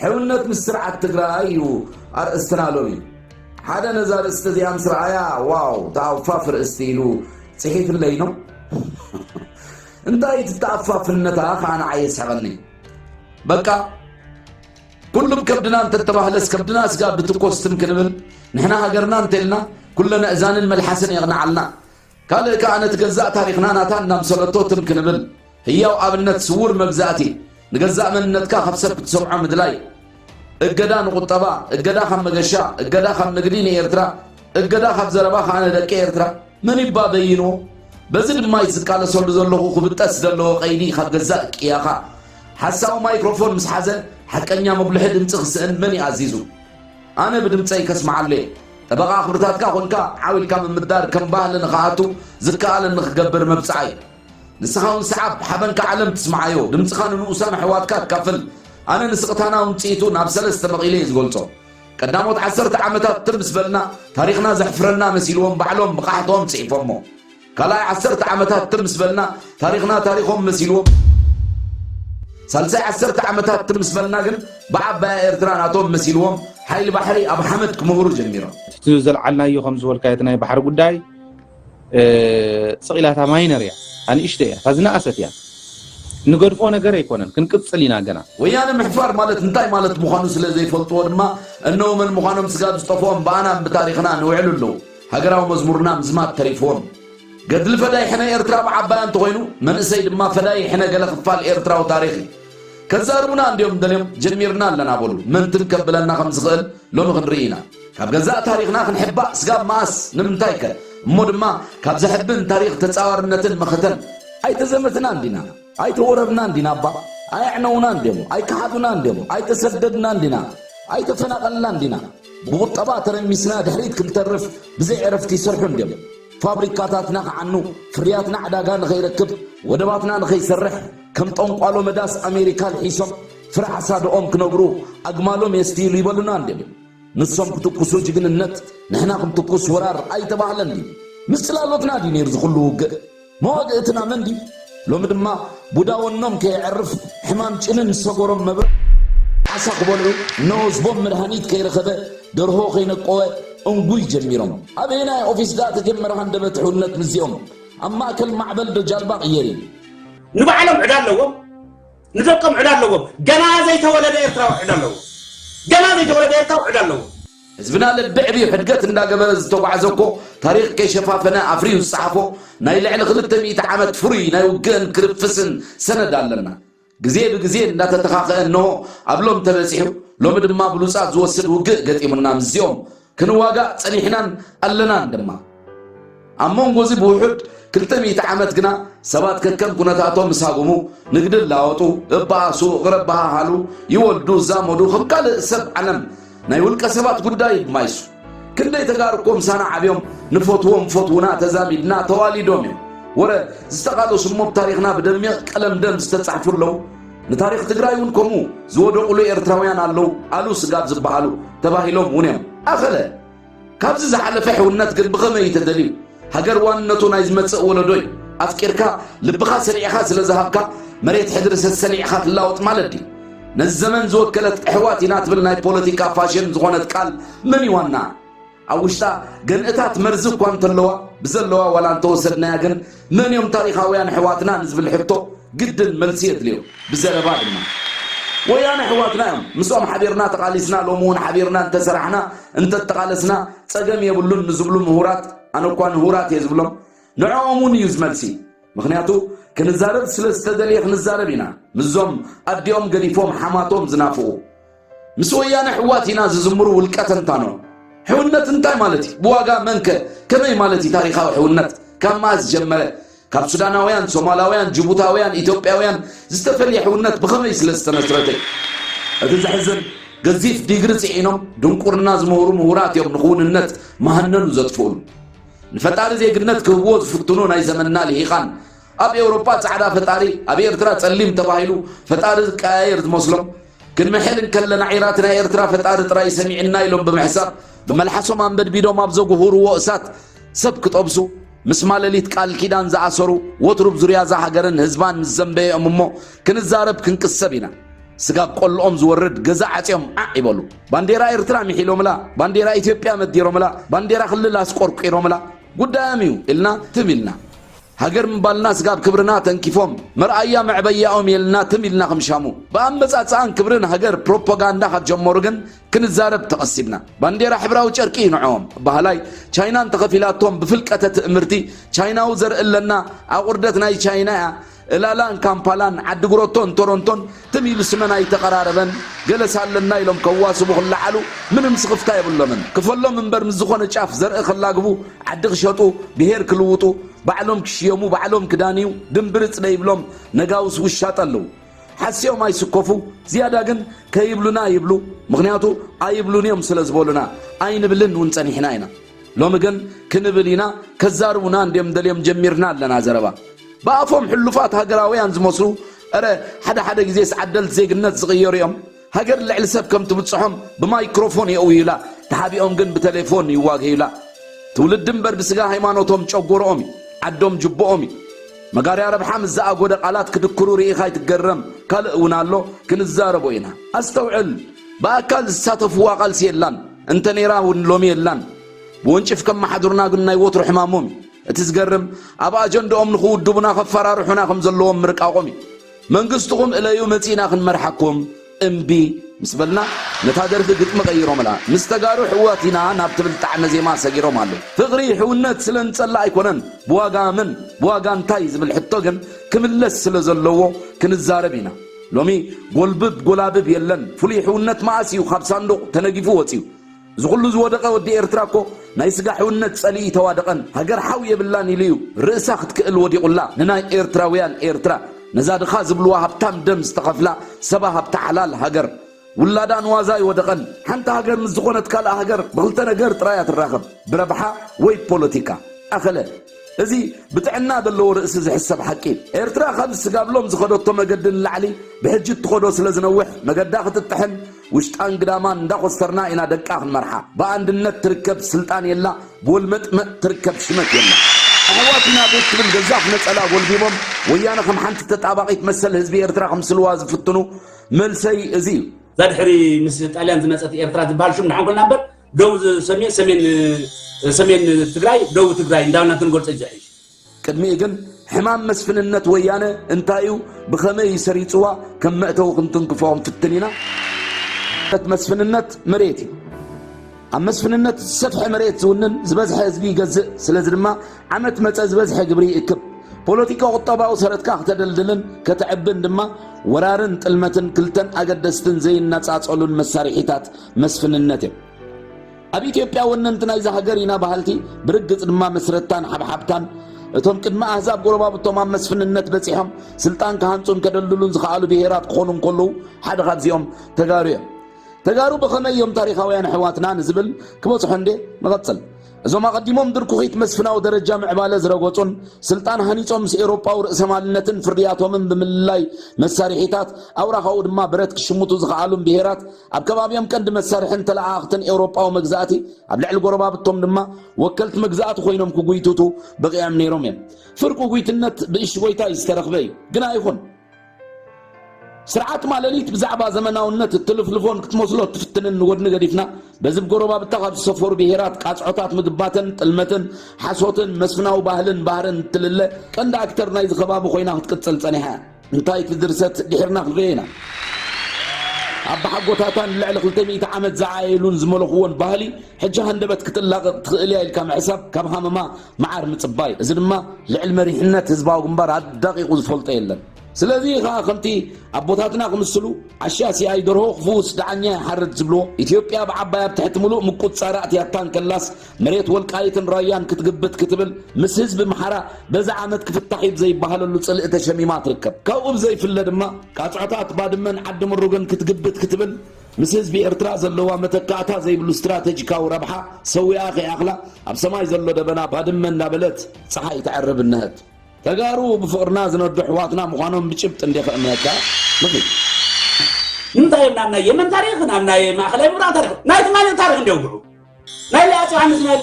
ሕውነት ምስ ስርዓት ትግራይ እዩ ኣርእስትና ሎሚ ሓደ ነዛ ርእስቲ እዚኣ ምስ ረኣያ ዋው ተኣፋፍ ርእስቲ ኢሉ ጽሒፍለይ ኖ እንታይ እቲ ተኣፋፍነታ ከዓ ንዓይ የስሕቐኒ በቃ ኩሉም ከብድና እንተተባህለስ ከብድና ስጋ ብትኮስ ትም ክንብል ንሕና ሃገርና እንተልና ኩለነ እዛንን መልሓስን የቕንዓልና ካልእ ከኣ ነቲ ገዛእ ታሪኽና ናታ እናምሰለቶ ትም ክንብል ህያው ኣብነት ስውር መግዛእቲ ንገዛእ መንነትካ ካብ ሰብ ክትሰምዖ ምድላይ እገዳ ንቁጠባ እገዳ ካብ መገሻ እገዳ ካብ ንግዲ ንኤርትራ እገዳ ካብ ዘረባ ከኣ ንደቂ ኤርትራ ምኒባ በይኑ፣ በዚ ድማ'ዩ ዝቃለሰሉ ዘለኹ ክብጠስ ዘለዎ ቀይዲ ካብ ገዛእ ቅያኻ ሓሳዊ ማይክሮፎን ምስ ሓዘ ሓቀኛ መጉልሒ ድምጺ ክስእን መን እዩ ኣዚዙ? ኣነ ብድምጸይ ከስምዓሉ'የ። ጠበቓ ክብርታትካ ኮንካ ዓው ኢልካ ምምዳር ከም ባህሊ ንኽኣቱ ዝከኣለኒ ክገብር መብጽዓይ። ንስኻ'ውን ስዓብ፣ ሓበንካ ዓለም ትስምዓዮ፣ ድምጽኻ ንንኡሳን ኣሕዋትካ ኣካፍል። ኣነ ንስቕታና ውንጽኢቱ ናብ ሰለስተ መቒለ'የ ዝገልጾ። ቀዳሞት ዓሰርተ ዓመታት ትም ምስ በልና ታሪኽና ዘሕፍረና መሲልዎም ባዕሎም ብቓሕትኦም ጽሒፎሞ። ካልኣይ ዓሰርተ ዓመታት ትም ምስ በልና ታሪኽና ታሪኾም መሲልዎም። ሳልሳይ ዓሰርተ ዓመታት ትም ምስ በልና ግን ብዓባያ ኤርትራ ናቶም መሲልዎም ሓይሊ ባሕሪ ኣብ ሓመድ ክምህሩ ጀሚሮም። እቲ ዘልዓልናዮ ከም ዝበልካዮ እቲ ናይ ባሕሪ ጉዳይ፣ ስቕ ኢላ እታ ማይነር እያ ኣንእሽተይ እያ እታ ዝነኣሰት እያ ንገድፎ ነገር ኣይኮነን ክንቅጽል ኢና ገና። ወያነ ምሕፋር ማለት እንታይ ማለት ምዃኑ ስለ ዘይፈልጥዎ ድማ እነሆ መን ምዃኖም ስጋብ ዝጠፍኦም ብኣናን ብታሪኽናን እውዕሉ ኣለዉ። ሃገራዊ መዝሙርና ምዝማት ተሪፍዎም። ገድሊ ፈዳይ ሕነ ኤርትራ ብዓባያ እንተኾይኑ መንእሰይ ድማ ፈዳይ ሕነ ገለ ክፋል ኤርትራዊ ታሪኽ እዩ። ከዛርቡና እንድዮም ደልዮም ጀሚርና ኣለና በሉ መንትን ከብለና ከም ዝኽእል ሎሚ ክንርኢ ኢና። ካብ ገዛእ ታሪኽና ክንሕባእ ስጋብ መኣስ ንምንታይ ከ እሞ ድማ ካብ ዘሕብን ታሪኽ ተጻዋርነትን መኸተን ኣይተዘመትናን ዲና ኣይተወረርናን ዲና እባ ኣየዕነውናን ድዮም ኣይከሓዱናን ድዮም ኣይተሰደድናን ዲና ኣይተፈናቐልናን ዲና ብቑጠባ ተረሚስና ድሕሪት ክንተርፍ ብዘይ ዕረፍቲ ይሰርሑ እንድዮም ፋብሪካታትና ክዓኑ ፍርያትና ዕዳጋ ንኸይረክብ ወደባትና ንኸይሰርሕ ከም ጠንቋሎ መዳስ ኣሜሪካ ልሒሶም ፍረ ሓሳድኦም ክነብሩ ኣግማሎም የስትይሉ ይበሉና እንድዮም። ንሶም ክትኩሱ ጅግንነት ንሕና ክንትኩስ ወራር ኣይተባህለን ድዩ? ምስ ጽላሎትና ድዩ ነይሩ እዚ ኩሉ ውግእ? መዋግእትና መን ድዩ? ሎሚ ድማ ቡዳ ወኖም ከየዕርፍ ሕማም ጭንን ሰጎሮም መብርዕ፣ ዓሳ ክበልዑ ነወዝቦም መድሃኒት ከይረኸበ ደርሆ ከይነቆወ እንጉይ ጀሚሮም። ኣበየናይ ኦፊስ ድኣ ተጀመረ ሃንደበት ሕውነት ምስዚኦም? ኣብ ማእከል ማዕበል ዶ ጃልባ ቅየሪ? ንባዕሎም ዕዳ ኣለዎም። ንደቆም ዕዳ ኣለዎም ገና ዘይተወለደ ኤርትራዊ ዕዳ ኣለዎ ገና ዘይተወለደ ኤርትራዊ ዕዳ ኣለዎ። ህዝብና ልቢ ዕብዩ ሕድገት እንዳገበረ ዝተጓዕዘ እኮ ታሪኽ ከይሸፋፈነ ኣፍርዩ ዝጸሓፎ ናይ ልዕሊ ክልተ ሚእቲ ዓመት ፍሩይ ናይ ውግእን ክርፍስን ሰነድ ኣለና። ግዜ ብግዜ እንዳተተኻኸ እንሆ ኣብ ሎምተ በጺሑ ሎሚ ድማ ብሉጻት ዝወስድ ውግእ ገጢሙና ምስዚኦም ክንዋጋእ ጸኒሕናን ኣለናን ድማ። ኣብ መንጎ እዚ ብውሑድ ክልተ ሚእቲ ዓመት ግና ሰባት ከከም ኩነታቶም ምስ ሃጉሙ ንግዲ ላወጡ፣ እበኣሱ፣ እቕረበሃሃሉ፣ ይወልዱ፣ ዛመዱ፣ ከም ካልእ ሰብ ዓለም ናይ ውልቀ ሰባት ጉዳይ ማይሱ። ክንደይ ተጋሩ እኮ ምሳና ዓብዮም ንፈትዎም ፈትውና ተዛሚድና ተዋሊዶም እዮም። ወረ ዝተቓለሱ እሞ ብ ታሪኽና ብደሚቕ ቀለም ደም ዝተጻሕፉ ኣለዉ። ንታሪኽ ትግራይ እውን ከምኡ ዝወደቑሉ ኤርትራውያን ኣለዉ ኣሉ ስጋብ ዝበሃሉ ተባሂሎም እውን እዮም። ኣኸለ ካብዚ ዝሓለፈ ሕውነት ግን ብኸመይ እዩ ተደልዩ? ሃገር ዋንነቱ ናይ ዝመጽእ ወለዶ እዩ። ኣፍቂርካ ልብኻ ሰሊዕኻ ስለ ዝሃብካ መሬት ሕድሪ ሰሰሊዕኻ ትላወጥ ማለት ድዩ? ነዚ ዘመን ዝወከለት እሕዋት ኢና ትብል ናይ ፖለቲካ ፋሽን ዝኾነት ቃል መን እዩ ዋናኣ? ኣብ ውሽጣ ገንእታት መርዚ እኳ እንተለዋ ብዘለዋ ዋላ እንተወሰድናያ ግን መን እዮም ታሪኻውያን ኣሕዋትና ንዝብል ሕቶ ግድን መልሲ የድልዮ ብዘረባ ድማ ወያነ ኣሕዋትና እዮም ምስኦም ሓቢርና ተቓሊስና ሎሚ እውን ሓቢርና እንተሰራሕና እንተተቓለስና ጸገም የብሉን ንዝብሉ ምሁራት ኣነ እኳ ንሁራት እየ ዝብሎም ንዕኦም እውን እዩ ዝመልሲ ምክንያቱ ክንዛረብ ስለ ዝተደልየ ክንዛረብ ኢና ምዞም ኣዲኦም ገዲፎም ሓማቶም ዝናፍቑ ምስ ወያነ ሕዋት ኢና ዝዝምሩ ውልቀ ተንታኖ ሕውነት እንታይ ማለት እዩ? ብዋጋ መንከ ከመይ ማለት እዩ? ታሪኻዊ ሕውነት ካብ መኣዝ ጀመረ? ካብ ሱዳናውያን፣ ሶማላውያን፣ ጅቡታውያን፣ ኢትዮጵያውያን ዝተፈልየ ሕውነት ብኸመይ ስለ ዝተመስረተ እዩ? እቲ ዘሕዝን ገዚፍ ዲግሪ ጽዒኖም ድንቁርና ዝምህሩ ምሁራት እዮም ንክውንነት መሃነኑ ዘጥፍኡሉ። ንፈጣሪ ዜግነት ክህብዎ ዝፍትኑ ናይ ዘመንና ልሂቃን ኣብ ኤውሮጳ ጻዕዳ ፈጣሪ ኣብ ኤርትራ ጸሊም ተባሂሉ ፈጣሪ ዝቀያየር ዝመስሎም ክንምሕል እንከለና ዒራት ናይ ኤርትራ ፈጣሪ ጥራይ ሰሚዑና ኢሎም ብምሕሳብ ብመልሓሶም ኣንበድቢዶም ኣብ ዘጉህርዎ እሳት ሰብ ክጠብሱ ምስ ማለሊት ቃል ኪዳን ዝኣሰሩ ወትሩ ዙርያ እዛ ሃገርን ህዝባን ምስ ዘንበየኦም እሞ ክንዛረብ ክንቅሰብ ኢና ስጋብ ቆልኦም ዝወርድ ገዛ ዓጽዮም ዓዕ ይበሉ ባንዴራ ኤርትራ ሚሒሎምላ ባንዴራ ኢትዮጵያ መዲሮምላ ባንዴራ ክልል ኣስቆርቂሮምላ ጉዳዮም እዩ ኢልና ትም ኢልና ሃገር ምባልና ስጋብ ክብርና ተንኪፎም መርኣያ መዕበያኦም የልና ትም ኢልና ክምሻሙ ብኣመጻጽኣን ክብሪ ንሃገር ፕሮፖጋንዳ ካብ ጀመሩ ግን ክንዛረብ ተቐሲብና ባንዴራ ሕብራዊ ጨርቂ እዩ ንዕኦም በሃላይ ቻይና እንተኸፊላቶም ብፍልቀተ ትእምርቲ ቻይናዊ ዘርኢ ኣለና ኣቑርደት ናይ ቻይና እያ እላላን ካምፓላን ዓዲ ጉሮቶን ቶሮንቶን ትም ኢሉ ስመን ኣይተቀራረበን ገለስ ኣለና ኢሎም ከዋስቡ ክለዓሉ ምንም ስኽፍታ የብሎምን ክፈሎም እምበር ምስ ዝኾነ ጫፍ ዘርኢ ከላግቡ ዓዲ ክሸጡ ብሄር ክልውጡ ባዕሎም ክሽየሙ ባዕሎም ክዳንዩ ድም ብርፅ ደይብሎም ነጋውስ ውሻጠ ኣለው ሓሲዮም ኣይስኮፉ ዝያዳ ግን ከይብሉና ይብሉ ምኽንያቱ ኣይብሉን እዮም ስለዝበሉና ኣይንብልን ውን ፀኒሕና ኢና ሎሚ ግን ክንብል ኢና ከዛርቡና እንድዮም ደልዮም ጀሚርና ኣለና ዘረባ ብኣፎም ሕሉፋት ሃገራውያን ዝመስሉ እረ ሓደ ሓደ ግዜስ ዓደልት ዜግነት ዝቕየሩ እዮም ሃገር ልዕሊ ሰብ ከም ትብጽሖም ብማይክሮፎን የእውዩላ ተሓቢኦም ግን ብተሌፎን ይዋገዩላ ትውልዲ እምበር ብስጋ ሃይማኖቶም ጨጎሮኦም እዩ ዓዶም ጅቦኦም እዩ መጋርያ ረብሓ ምስ ዝኣጎደ ቃላት ክድክሩ ርኢኻ ኣይትገረም ካልእ እውን ኣሎ ክንዛረቦ ኢና ኣስተውዕል ብኣካል ዝሳተፍዋ ቃልሲ የላን እንተ ነይራ እውን ሎሚ የላን። ብወንጭፍ ከመሓድሩና ግን ናይ ወትሩ ሕማሞም እዩ። እቲ ዝገርም ኣብ ኣጀንድኦም ንኽውድቡና ከፈራርሑና ከም ዘለዎም ምርቃቖም እዩ። መንግስትኹም እለዩ መጺእና ክንመርሓኩም እምቢ ምስ በልና ነታ ደርፊ ግጥሚ ቀይሮምላ ምስ ተጋሩ ሕዋት ኢና ናብ ትብል ጣዕመ ዜማ ሰጊሮም ኣለው። ፍቕሪ ሕውነት ስለ ንጸልእ ኣይኮነን ብዋጋ መን ብዋጋ እንታይ ዝብል ሕቶ ግን ክምለስ ስለ ዘለዎ ክንዛረብ ኢና። ሎሚ ጎልብብ ጎላብብ የለን ፍሉይ ሕውነት መኣስ እዩ ካብ ሳንዱቕ ተነጊፉ ወጺኡ እዚ ኩሉ ዝወደቐ ወዲ ኤርትራ እኮ ናይ ስጋ ሕውነት ጸሊኢ ተዋደቐን ሃገር ሓው የብላን ኢሉ እዩ ርእሳ ክትክእል ወዲቑላ ንናይ ኤርትራውያን ኤርትራ ነዛ ድኻ ዝብልዋ ሃብታም ደም ዝተኸፍላ ሰባ ሃብቲ ሓላል ሃገር ውላዳ ንዋዛ ኣይወደቐን። ሓንቲ ሃገር ምስ ዝኾነት ካልእ ሃገር ብኽልተ ነገር ጥራይ እያ ትራኸብ፣ ብረብሓ ወይ ብፖለቲካ። ኣኸለ። እዚ ብጥዕና ዘለዎ ርእሲ ዝሕሰብ ሓቂ እዩ። ኤርትራ ካብ ዝስጋብሎም ዝኸደቶ መገዲ ንላዕሊ ብሕጂ እትኸዶ ስለ ዝነውሕ መገዳ ክትጥሕን ውሽጣን ግዳማን እንዳኾስተርና ኢና ደቃ ክንመርሓ። ብኣንድነት ትርከብ ስልጣን የላ፣ ብወልመጥመጥ ትርከብ ሽመት የላ። ኣሕዋት ኢና ቤት ትብል ገዛፍ ነጸላ ጎልቢቦም ወያነ ከም ሓንቲ ተጣባቒት መሰል ህዝቢ ኤርትራ ከምስልዋ ዝፍትኑ መልሰይ እዚ እዩ። እዛ ድሕሪ ምስ ጣልያን ዝመፀት ኤርትራ ዝበሃል ሹም ንሓንኮልና እምበር ደቡብ ሰሜን ሰሜን ሰሜን ትግራይ ደቡብ ትግራይ እንዳበልና ክንገልፆ እዩ ዝሕሽ። ቅድሚኡ ግን ሕማም መስፍንነት ወያነ እንታይ እዩ፣ ብኸመይ እዩ ሰሪፅዋ ከም መእተዊ ክንትንክፎ ክንፍትን ኢና። መስፍንነት መሬት እዩ። ኣብ መስፍንነት ዝሰፍሐ መሬት ዝውንን ዝበዝሐ ህዝቢ ይገዝእ። ስለዚ ድማ ዓመት መጸ ዝበዝሐ ግብሪ ይእክብ። ፖለቲካ ቁጠባዊ ሰረትካ ክተደልድልን ከተዕብን ድማ ወራርን ጥልመትን ክልተን ኣገደስትን ዘይናጻጸሉን መሳርሒታት መስፍንነት እዮም። ኣብ ኢትዮጵያ ወነንቲ ናይዛ ሃገር ኢና በሃልቲ ብርግጽ ድማ መስረትታን ሓብሓብታን እቶም ቅድሚ ኣህዛብ ጎረባብቶም ኣብ መስፍንነት በጺሖም ስልጣን ክሃንጹን ከደልድሉን ዝኸኣሉ ብሄራት ክኾኑ እንከለዉ ሓደ ካብዚኦም ተጋሩ እዮም። ተጋሩ ብኸመይ እዮም ታሪኻውያን ኣሕዋትና ንዝብል ክበጽሖ እንዴ ንቐጽል። እዞም ኣቐዲሞም ድርኩኺት መስፍናዊ ደረጃ ምዕባለ ዝረገጹን ስልጣን ሃኒጾም ምስ ኤውሮጳዊ ርእሰማልነትን ፍርያቶምን ብምልላይ መሳርሒታት ኣውራኻኡ ድማ ብረት ክሽምቱ ዝኸኣሉን ብሄራት ኣብ ከባቢኦም ቀንዲ መሳርሕን ተለኣኣኽትን ኤውሮጳዊ መግዛእቲ ኣብ ልዕሊ ጎረባብቶም ድማ ወከልቲ መግዛእቲ ኮይኖም ክጉይትቱ በቒዖም ነይሮም እዮም። ፍርቂ ጉይትነት ብእሽጎይታ እዩ ዝተረኽበ እዩ ግና ይኹን ስርዓት ማለሊት ብዛዕባ ዘመናውነት እትልፍልፎን ክትመስሎ እትፍትንን ንጎድኒ ገዲፍና በዚ ጎረባብታ ካብ ዝሰፈሩ ብሄራት ቃጽዖታት ምግባተን ጥልመትን ሓሶትን መስፍናዊ ባህልን ባህርን እትልለ ቀንዲ ኣክተር ናይዚ ከባቢ ኮይና ክትቅጽል ጸኒሓ እንታይ እቲ ድርሰት ድሒርና ክንሪኦ ኢና ኣባሓጎታታን ልዕሊ 200 ዓመት ዝዓየሉን ዝመለኽዎን ባህሊ ሕጂ ሃንደበት ክትላቐቕ ትኽእል እያ ኢልካ ምሕሳብ ካብ ሃመማ መዓር ምጽባይ እዩ። እዚ ድማ ልዕሊ መሪሕነት ህዝባዊ ግንባር ኣዳቒቑ ዝፈልጦ የለን። ስለዚ እዩ ከኣ ከምቲ ኣቦታትና ክምስሉ ዓሻ ሲኣይ ደርሆ ክፍውስ ደዓኛ ይሓርድ ዝብልዎ፣ ኢትዮጵያ ብዓባይ ኣብ ትሕቲ ምሉእ ምቁጽጻር ኣእትያታ እንከላስ መሬት ወልቃይትን ራያን ክትግብት ክትብል ምስ ህዝቢ ኣምሓራ በዚ ዓመት ክፍታሕ እዩ ብዘይበሃለሉ ጽልኢ ተሸሚማ ትርከብ። ካብኡ ብዘይፍለ ድማ ቃጽዖታት ባድመን ዓዲ ምሩግን ክትግብት ክትብል ምስ ህዝቢ ኤርትራ ዘለዋ መተካእታ ዘይብሉ ስትራተጂካዊ ረብሓ ሰዊኣ ከይኣኽላ ኣብ ሰማይ ዘሎ ደበና ባድመ እንዳበለት ጸሓይ ተዕርብ እነሀት። ተጋሩ ብፍቕርና ዝነዱ ኣሕዋትና ምዃኖም ብጭብጢ እንዴ ከእምነካ ንኺድ። ንምንታይ እዮም ናብ ናይ የመን ታሪኽ ናብ ናይ ማእኸላይ ምብራቕ ታሪኽ ናይ ትማሊ ታሪኽ እንዲ የውግዑ ናይ ኣፄ ዮሃንስ ናይ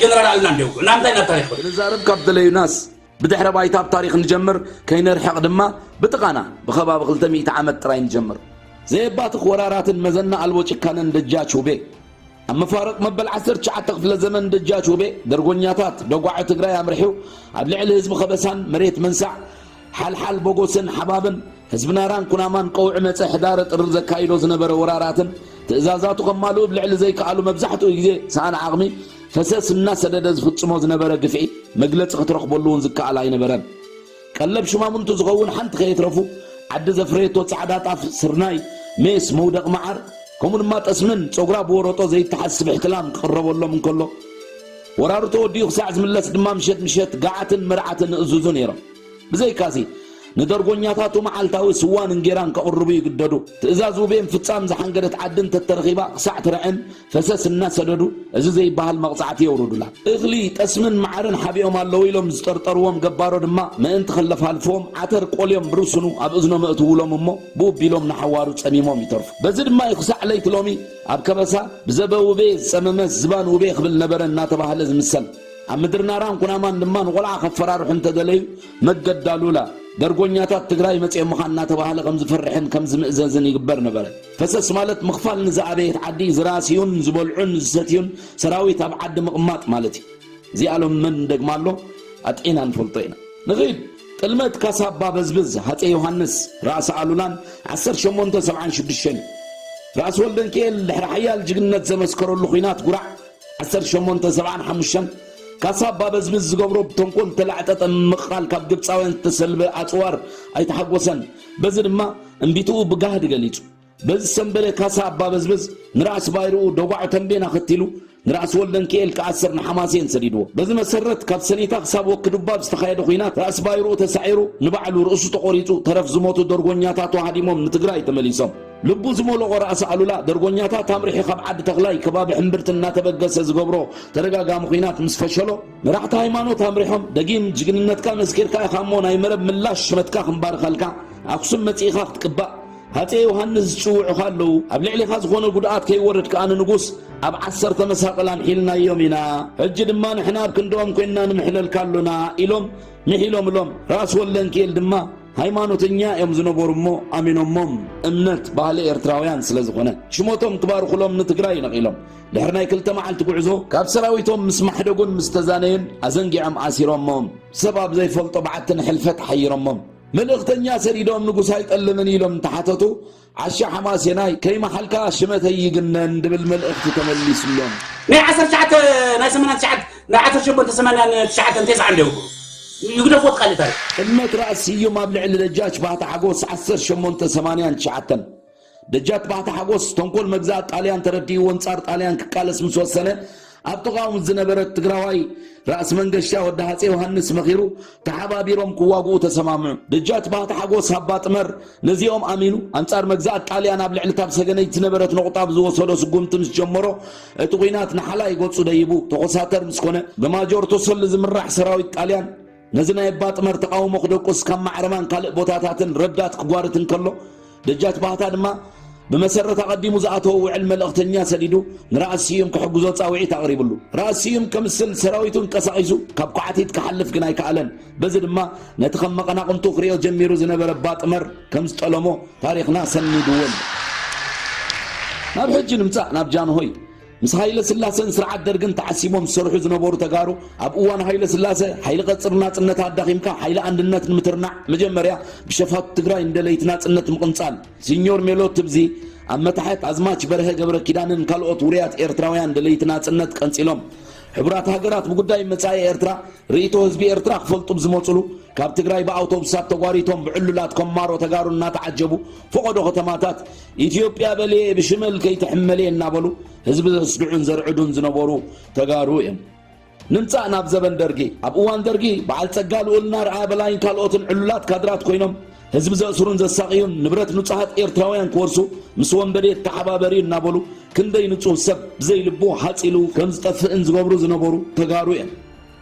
ጀነራል ኣሉላ እንዲ የውግዑ ናምንታይ ናብ ታሪኽ ክንዛረብ ካብ ደለዩናስ ብድሕረ ባይታ ብ ታሪኽ ንጀምር፣ ከይንርሕቕ ድማ ብጥቓና ብከባቢ ክልተ ሚእቲ ዓመት ጥራይ ንጀምር። ዘየባትኽ ወራራትን መዘና ኣልቦ ጭካነን ደጃች ውቤ ኣብ መፋርቕ መበል ዓሰርተ ትሽዓተ ክፍለ ዘመን ደጃች ውቤ ደርጎኛታት ደጓዖ ትግራይ ኣምሪሑ ኣብ ልዕሊ ህዝቢ ከበሳን መሬት መንሳዕ ሓልሓል ቦጎስን ሓባብን ህዝቢ ናራን ኩናማን ቀውዒ መጸ ሕዳረ ጥሪ ዘካይዶ ዝነበረ ወራራትን ትእዛዛቱ ከማልኡ ብ ልዕሊ ዘይከኣሉ መብዛሕትኡ ግዜ ሰኣን ዓቕሚ ፈሰስ እናሰደደ ዝፍጽሞ ዝነበረ ግፍዒ መግለጺ ክትረኽበሉ እውን ዝከኣል ኣይነበረን። ቀለብ ሹማምንቱ ዝኸውን ሓንቲ ከየትረፉ ዓዲ ዘፍረየቶ ጻዕዳ ጣፍ፣ ስርናይ፣ ሜስ፣ መውደቕ መዓር ከምኡ ድማ ጠስምን ጸጉራ ብወረጦ ዘይተሓዝ ስብሕቲ ላም ክቕረበሎም እንከሎ ወራሩ ተወዲኡ ክሳዕ ዝምለስ ድማ ምሸት ምሸት ገዓትን መርዓትን እእዝዙ ነይሮም። ብዘይካዚ ንደርጎኛታቱ መዓልታዊ ስዋን እንጌራን ከቕርቡ ይግደዱ። ትእዛዝ ውቤ ምፍጻም ዝሓንገደት ዓዲ እንተተረኺባ ክሳዕ ትርዕን ፈሰስ እናሰደዱ እዚ ዘይበሃል መቕጻዕቲ የውርዱላ። እኽሊ፣ ጠስምን መዓርን ሓቢኦም ኣለዉ ኢሎም ዝጠርጠርዎም ገባሮ ድማ ምእንቲ ክለፋልፍዎም ዓተር ቆልዮም ብርስኑ ኣብ እዝኖም የእትዉሎም እሞ ብው ቢሎም ንሓዋሩ ጸሚሞም ይተርፉ። በዚ ድማ እዩ ክሳዕ ለይቲ ሎሚ ኣብ ከበሳ ብዘበ ውቤ ዝጸመመስ ዝባን ውቤ ክብል ነበረ እናተባህለ ዝምሰል። ኣብ ምድሪ ናራን ኩናማን ድማ ንቆልዓ ከፈራርሑ እንተደለዩ መገዲ ኣሉላ፣ ደርጎኛታት ትግራይ መጺኦምኻ እናተባህለ ከም ዝፍርሕን ከም ዝምእዘዝን ይግበር ነበረ። ፈሰስ ማለት ምኽፋል ንዝኣበየት ዓዲ ዝራስዩን ዝበልዑን ዝሰትዩን ሰራዊት ኣብ ዓዲ ምቕማጥ ማለት እዩ። እዚኣ ሎሚ መን እንደግማ ኣሎ ኣጥዒና ንፈልጦ ኢና። ንኺድ! ጥልመት ካሳ ኣባ በዝብዝ ሃፀይ ዮሃንስ፣ ራእሲ ኣሉላን ዓሰርተ ሸሞንተ ሰብዓን ሽዱሽተን እዩ። ራእሲ ወልደንኪኤል ድሕሪ ሓያል ጅግንነት ዘመስከረሉ ኹናት ጉራዕ ዓሰርተ ሸሞንተ ሰብዓን ሓሙሽተን ካሳ ኣባ በዝብዝ ዝገብሮ ብተንኮል ዝተላዕጠጠ ምምቕቓል ካብ ግብፃውያን ዝተሰልበ ኣፅዋር ኣይተሓጎሰን። በዚ ድማ እምቢትኡ ብጋህዲ ገሊጹ። በዚ ሰምበለ ካሳ ኣባበዝበዝ ንራእሲ ባይርኡ ደጓዕ ተምቤን ኣኸቲሉ፣ ንራእሲ ወልደንኪኤል ክኣስር ንሓማሴን ሰዲድዎ። በዚ መሰረት ካብ ሰኒታ ክሳብ ወኪዱባብ ዝተኻየደ ኩናት ራእሲ ባይርኡ ተሳዒሩ፣ ንባዕሉ ርእሱ ተቖሪጹ፣ ተረፍ ዝሞቱ ደርጎኛታቱ ሃዲሞም ንትግራይ ተመሊሶም። ልቡ ዝሞሎቖ ራእሲ ኣሉላ፣ ደርጎኛታት ኣምሪሑ ካብ ዓዲ ተኽላይ ከባቢ ሕምብርቲ እናተበገሰ ዝገብሮ ተደጋጋሚ ኩናት ምስ ፈሸሎ፣ መራሕቲ ሃይማኖት ኣምሪሖም ደጊም ጅግንነትካ መስኪርካ ኢኻ እሞ ናይ መረብ ምላሽ ሽመትካ ክንባርኸልካ ኣክሱም መጺእኻ ክትቅባእ ሃፄ ዮሃንስ ዝጽውዑኻ ኣለዉ ኣብ ልዕሊኻ ዝኾነ ጉድኣት ከይወርድ ከኣ ንንጉስ ኣብ ዓሰርተ መሳቕል ኣምሒልናዮም ኢና ሕጂ ድማ ንሕና ኣብ ክንድኦም ኮይንና ንምሕለልካ ኣሎና ኢሎም ምሒሎምሎም ራስ ወለንኪኤል ድማ ሃይማኖተኛ እዮም ዝነበሩ እሞ ኣሚኖሞም እምነት ባህሊ ኤርትራውያን ስለ ዝኾነ ሽመቶም ክባርኹሎም ንትግራይ ነቒሎም ድሕሪ ናይ ክልተ መዓልቲ ጉዕዞ ካብ ሰራዊቶም ምስ ማሕደጉን ምስ ተዛነዩን ኣዘንጊዖም ኣሲሮሞም ሰብ ኣብ ዘይፈልጦ በዓቲ ንሕልፈት ሓይሮሞም መልእኽተኛ ሰዲዶም ንጉስ ኣይጠልምን ኢሎም እንተሓተቱ ዓሻ ሓማሴናይ ከይመሓልካ ሽመተይ ይግነን ድብል መልእኽቲ ተመሊስሎም። ናይ ዓሰርተ ትሽዓተ ናይ ሰመናን ትሽዓተ ናይ ዓሰርተ ሸሞንተ ሰማንያን ትሽዓተን ቴስዓን ዶ ይኸውን? ይግደፎ እቲ ካልእ ታሪኽ። ጥልመት ራእሲ ስዩም ኣብ ልዕሊ ደጃች ባህታ ሓጎስ ዓሰርተ ሸሞንተ ሰማንያን ትሽዓተን ደጃት ባሕቲ ሓጎስ ተንኮል መግዛእት ጣልያን ተረዲእዎ ኣንጻር ጣልያን ክቃለስ ምስ ወሰነ ኣብ ጥቓኡ ምስ ዝነበረት ትግራዋይ ራእሲ መንገሻ ወዲ ሃፀ ዮሃንስ መኺሩ ተሓባቢሮም ክዋግኡ ተሰማምዑ። ደጃት ባህቲ ሓጎስ ሃባ ጥመር ነዚኦም ኣሚኑ ኣንጻር መግዛእት ጣልያን ኣብ ልዕሊ ታብ ሰገነይት ዝነበረት ነቑጣ ብዝወሰዶ ስጉምቲ ምስ ጀመሮ እቲ ኲናት ንሓላይ ገጹ ደይቡ ተኾሳተር ምስ ኮነ ብማጆር ተሰሉ ዝምራሕ ሰራዊት ጣልያን ነዚ ናይ እባ ጥመር ተቓውሞ ክደቁስ ካብ ማዕረማን ካልእ ቦታታትን ረዳት ክጓርት እንከሎ፣ ደጃች ባህታ ድማ ብመሰረት ኣቐዲሙ ዝኣተዎ ውዕል መልእኽተኛ ሰዲዱ ንራእሲ ስዩም ክሕግዞ ጻውዒት ኣቕሪብሉ። ራእሲ ስዩም ከምስል ሰራዊቱ እንቀሳቒሱ ካብ ኳዕቲት ክሓልፍ ግን ኣይከኣለን። በዚ ድማ ነቲ ከም መቐናቕንቱ ክሪኦ ጀሚሩ ዝነበረ እባ ጥመር ከም ዝጠለሞ ታሪኽና ሰኒድዎ ኣሎ። ናብ ሕጂ ንምጻእ ናብ ጃንሆይ ምስ ሃይለስላሰን ስርዓት ደርግን ተዓሲቦም ዝሰርሑ ዝነበሩ ተጋሩ ኣብ እዋን ሃይለስላሰ ሓይሊ ቀፅሪ ናፅነት ኣዳኺምካ ሓይሊ ኣንድነት ንምትርናዕ መጀመርያ ብሸፋቱ ትግራይ ንደለይቲ ናፅነት ምቕንፃል ሲኞር ሜሎ ትብዚ ኣብ መታሕት ኣዝማች በርሀ ገብረኪዳንን ካልኦት ውሩያት ኤርትራውያን ደለይቲ ናፅነት ቀንፂሎም ሕቡራት ሃገራት ብጉዳይ መጻኢ ኤርትራ ርእይቶ ህዝቢ ኤርትራ ክፈልጡ ብዝመፅሉ ካብ ትግራይ ብኣውቶቡሳት ተጓሪቶም ብዕሉላት ኮማሮ ተጋሩ እናተዓጀቡ ፈቐዶ ከተማታት ኢትዮጵያ በልየ ብሽመል ከይትሕመልየ እናበሉ ህዝቢ ዘስግዑን ዘርዕዱን ዝነበሩ ተጋሩ እዮም። ንምጻእ ናብ ዘበን ደርጊ ኣብ እዋን ደርጊ በዓል ጸጋ ልኡልና ርኣያ በላይን ካልኦትን ዕሉላት ካድራት ኮይኖም ህዝቢ ዘእስሩን ዘሳቕዩን ንብረት ንጹሃት ኤርትራውያን ክወርሱ ምስ ወንበዴት ተሓባበሪ እናበሉ ክንደይ ንጹህ ሰብ ብዘይልቡ ሃጺሉ ከም ዝጠፍእን ዝገብሩ ዝነበሩ ተጋሩ እዮም።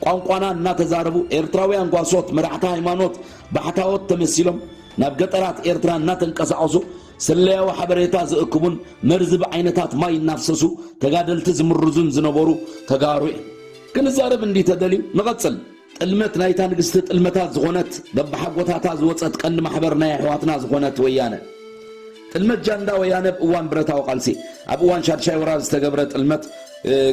ቋንቋና እናተዛረቡ ኤርትራውያን ጓሶት መራሕቲ ሃይማኖት ባሕታዎት ተመሲሎም ናብ ገጠራት ኤርትራ እናተንቀሳቐሱ ስለያዊ ሓበሬታ ዝእክቡን መርዚ ብዓይነታት ማይ እናፍሰሱ ተጋደልቲ ዝምርዙን ዝነበሩ ተጋሩ እዮም። ክንዛረብ እንዲ ተደልዩ ንቐጽል። ጥልመት ናይታ ንግስቲ ጥልመታት ዝኾነት በብሓጎታታ ዝወጸት ቀንዲ ማሕበር ናይ ኣሕዋትና ዝኾነት ወያነ ጥልመት ጃንዳ ወያነ ኣብ እዋን ብረታዊ ቃልሲ፣ ኣብ እዋን ሻድሻይ ወራር ዝተገብረ ጥልመት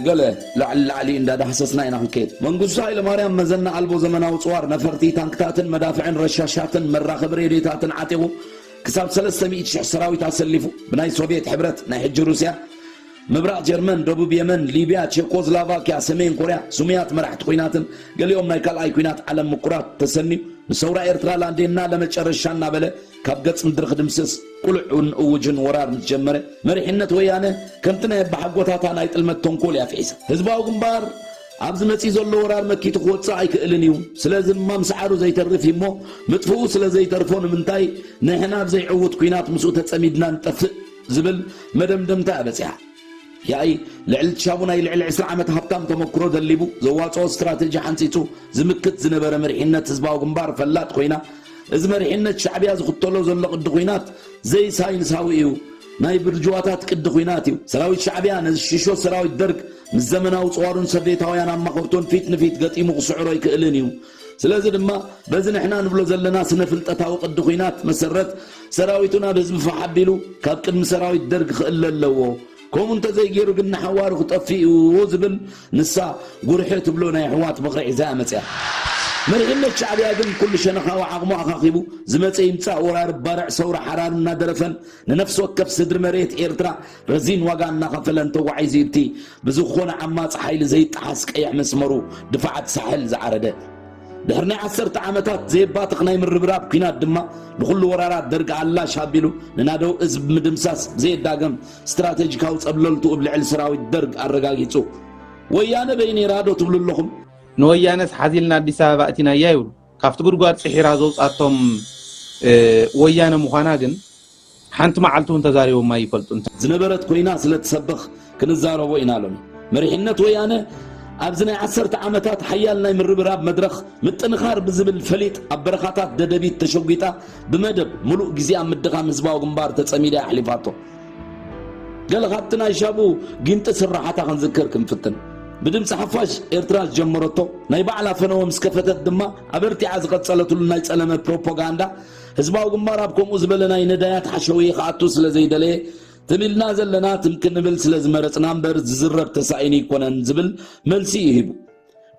ገለ ላዕሊ ላዕሊ እንዳ ዳህሰስና ኢና ክንከይድ። መንግስቱ ሃይለማርያም መዘና ኣልቦ ዘመናዊ ጽዋር ነፈርቲ፣ ታንክታትን መዳፍዕን ረሻሻትን መራኸቢ ሬድዮታትን ዓጢቑ ክሳብ ሰለስተ ሚእቲ ሽሕ ሰራዊት ኣሰሊፉ ብናይ ሶቭየት ሕብረት፣ ናይ ሕጂ ሩስያ፣ ምብራቕ ጀርመን፣ ደቡብ የመን፣ ሊብያ፣ ቼኮዝላቫክያ፣ ሰሜን ኮርያ፣ ስሙያት መራሕቲ ኩናትን ገሊኦም ናይ ካልኣይ ኩናት ዓለም ምኩራት ተሰንዩ ንሰውራ ኤርትራ ላንዴና ለመጨረሻ እናበለ ካብ ገጽ ምድሪ ክድምስስ ቅሉዕን እውጅን ወራር ምስ ጀመረ መሪሕነት ወያነ ከምቲ ናይ ኣባሓጎታታ ናይ ጥልመት ተንኮል እያ ፍሒሳ። ህዝባዊ ግንባር ኣብዚ መጺኡ ዘሎ ወራር መኪቱ ክወጽእ ኣይክእልን እዩ። ስለዚ እማ ምስዓሩ ዘይተርፍ እዩ እሞ ምጥፍኡ ስለ ዘይተርፎ ንምንታይ ንሕና ኣብ ዘይዕዉት ኲናት ምስኡ ተጸሚድና ንጠፍእ ዝብል መደምደምታ እያ በጺሓ። ያኢ ልዕሊ ሻቡ ናይ ልዕሊ ዕስራ ዓመት ሃብታም ተመክሮ ደሊቡ፣ ዘዋጽኦ ስትራተጂ ሓንጺጹ ዝምክት ዝነበረ መሪሕነት ህዝባዊ ግንባር ፈላጥ ኮይና፣ እዚ መሪሕነት ሻዕብያ ዝኽተሎ ዘሎ ቅዲ ኩናት ዘይሳይንሳዊ እዩ፣ ናይ ብርጅዋታት ቅዲ ኩናት እዩ። ሰራዊት ሻዕብያ ነዚ ሽሾ ሰራዊት ደርግ ምስ ዘመናዊ ጽዋሩን ሰቭየታውያን ኣማኸርቱን ፊት ንፊት ገጢሙ ክስዕሮ ኣይክእልን እዩ። ስለዚ ድማ በዚ ንሕና ንብሎ ዘለና ስነ ፍልጠታዊ ቅዲ ኩናት መሰረት ሰራዊቱ ናብ ህዝቢ ፋሕ ኣቢሉ ካብ ቅድሚ ሰራዊት ደርግ ክእለ ኣለዎ ከምኡ እንተዘይገይሩ ግን ንሓዋሩ ክጠፍእ እዩ ዝብል ንሳ ጉርሒ ትብሎ ናይ ኣሕዋት ምኽሪ ሒዛ እያ መፂኣ። መሪሕነት ሻዕቢያ ግን ኩሉ ሸነኻዊ ዓቕሙ ኣኻኺቡ ዝመፀ ይምፃእ ወራሪ ባርዕ ሰውራ ሓራን እናደረፈን ንነፍሲ ወከፍ ስድሪ መሬት ኤርትራ ረዚን ዋጋ እናኸፈለ እንተጓዒዙ እቲ ብዝኾነ ዓማጺ ሓይሊ ዘይጠሓስ ቀይሕ መስመሩ ድፋዓት ሳሕል ዝዓረደ ድሕሪ ናይ ዓሰርተ ዓመታት ዘየባትኽ ናይ ምርብራብ ኲናት ድማ ንዅሉ ወራራት ደርጊ ኣላሽ ኣቢሉ ንናደው እዝ ብምድምሳስ ብዘየዳገም ስትራተጂካዊ ጸብለልትኡ ብ ልዕሊ ሰራዊት ደርግ ኣረጋጊጹ ወያነ በይ ነይራ ዶ ትብሉ ኣለኹም? ንወያነስ ሓዚልና ኣዲስ ኣበባ ኣእቲናያ ይብሉ። ካብቲ ጉድጓድ ፂሒራ ዘውፃቶም ወያነ ምዃና ግን ሓንቲ መዓልቲ እውን ተዛሪቦም ኣይፈልጡን። ዝነበረት ኮይና ስለትሰበኽ ክንዛረቦ ኢና ሎሚ። መሪሕነት ወያነ ኣብዚ ናይ ዓሰርተ ዓመታት ሓያል ናይ ምርብራብ መድረኽ ምጥንኻር ብዝብል ፈሊጥ ኣብ በረኻታት ደደቢት ተሸጒጣ ብመደብ ምሉእ ግዜ ኣብ ምድኻም ህዝባዊ ግንባር ተጸሚዳ እያ ኣሕሊፋቶ። ገለ ካብቲ ናይ ሻቡ ጊንጢ ስርሓታ ክንዝክር ክንፍትን። ብድምፂ ሓፋሽ ኤርትራ ዝጀመረቶ ናይ ባዕላ ፈነወ ምስ ከፈተት ድማ ኣበርቲዓ ዝቐጸለትሉ ናይ ጸለመ ፕሮፖጋንዳ ህዝባዊ ግንባር ኣብ ከምኡ ዝበለ ናይ ነዳያት ሓሸውየ ክኣቱ ስለ ዘይደለየ፣ ትም ኢልና ዘለና ትም ክንብል ስለ ዝመረጽና እምበር ዝዝረብ ተሳኢኑ ኣይኮነን ዝብል መልሲ እዩ ሂቡ።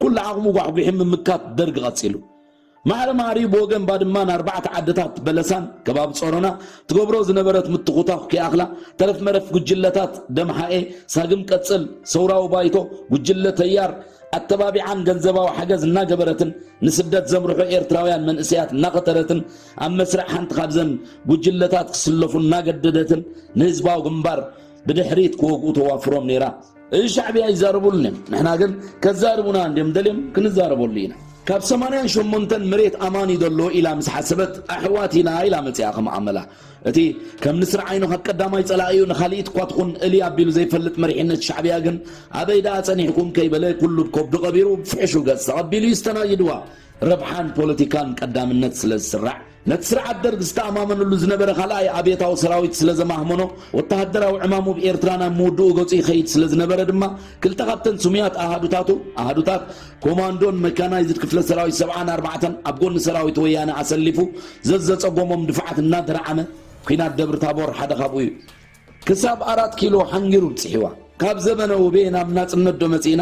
ኩሉ ዓቕሙ ጓሕጒሑ ምምካት ደርግ ቀጺሉ። ማዕረ ማዕሪኡ ብወገን ባድማን ኣርባዕተ ዓድታት በለሳን ከባቢ ጸሮና ትገብሮ ዝነበረት ምትኹታኹ ከይኣኽላ ተረፍ መረፍ ጉጅለታት ደምሓኤ፣ ሳግም ቀጽል፣ ሰውራዊ ባይቶ፣ ጉጅለ ተያር፣ ኣተባቢዓን ገንዘባዊ ሓገዝ እናገበረትን ንስደት ዘምርሑ ኤርትራውያን መንእሰያት እናቐተረትን ኣብ መስርዕ ሓንቲ ካብዘን ጉጅለታት ክስለፉ እናገደደትን ንህዝባዊ ግንባር ብድሕሪት ክወግኡ ተዋፍሮም ነይራ። እዚ ሻዕብያ ይዛረቡልን እዮም፣ ንሕና ግን ከዛርቡና እንድዮም ደልዮም ክንዛረበሉ ኢና። ካብ ሰማንያን ሸሞንተን መሬት ኣማን እዩ ዘሎ ኢላ ምስ ሓሰበት ኣሕዋት ኢና ኢላ መጺኣ ከም ኣመላ እቲ ከም ንስሪ ዓይኑ ካብ ቀዳማይ ጸላኢኡ ንኻልኢት እኳ ትኹን እልይ ኣቢሉ ዘይፈልጥ መሪሕነት ሻዕብያ ግን ኣበይ ደኣ ጸኒሕኩም ከይበለ ኩሉ ብ ከብዱ ቀቢሩ ብ ፍሕሹ ገጽ ተቐቢሉ ይስተናግድዋ። ረብሓን ፖለቲካን ቀዳምነት ስለ ዝስራዕ። ነቲ ስርዓት ደርግ ዝተኣማመነሉ ዝነበረ ካልኣይ ኣብየታዊ ሰራዊት ስለ ዘማህመኖ ወተሃደራዊ ዕማሙ ብ ኤርትራ ናብ ምውድኡ ገጹ ይኸይድ ስለ ዝነበረ ድማ ክልተ ካብተን ስሙያት ኣሃዱታቱ ኣሃዱታት ኮማንዶን መካናይዝድ ክፍለ ሰራዊት ሰብዓን ኣርባዕተን ኣብ ጎኒ ሰራዊት ወያነ ኣሰሊፉ ዘዘፀጎሞም ድፋዓት እናደርዓመ ኲናት ደብሪ ታቦር ሓደ ካብኡ እዩ። ክሳብ ኣራት ኪሎ ሓንጊሩ ብፅሒዋ። ካብ ዘመነ ውቤ ናብ ናፅነት ዶ መፂእና?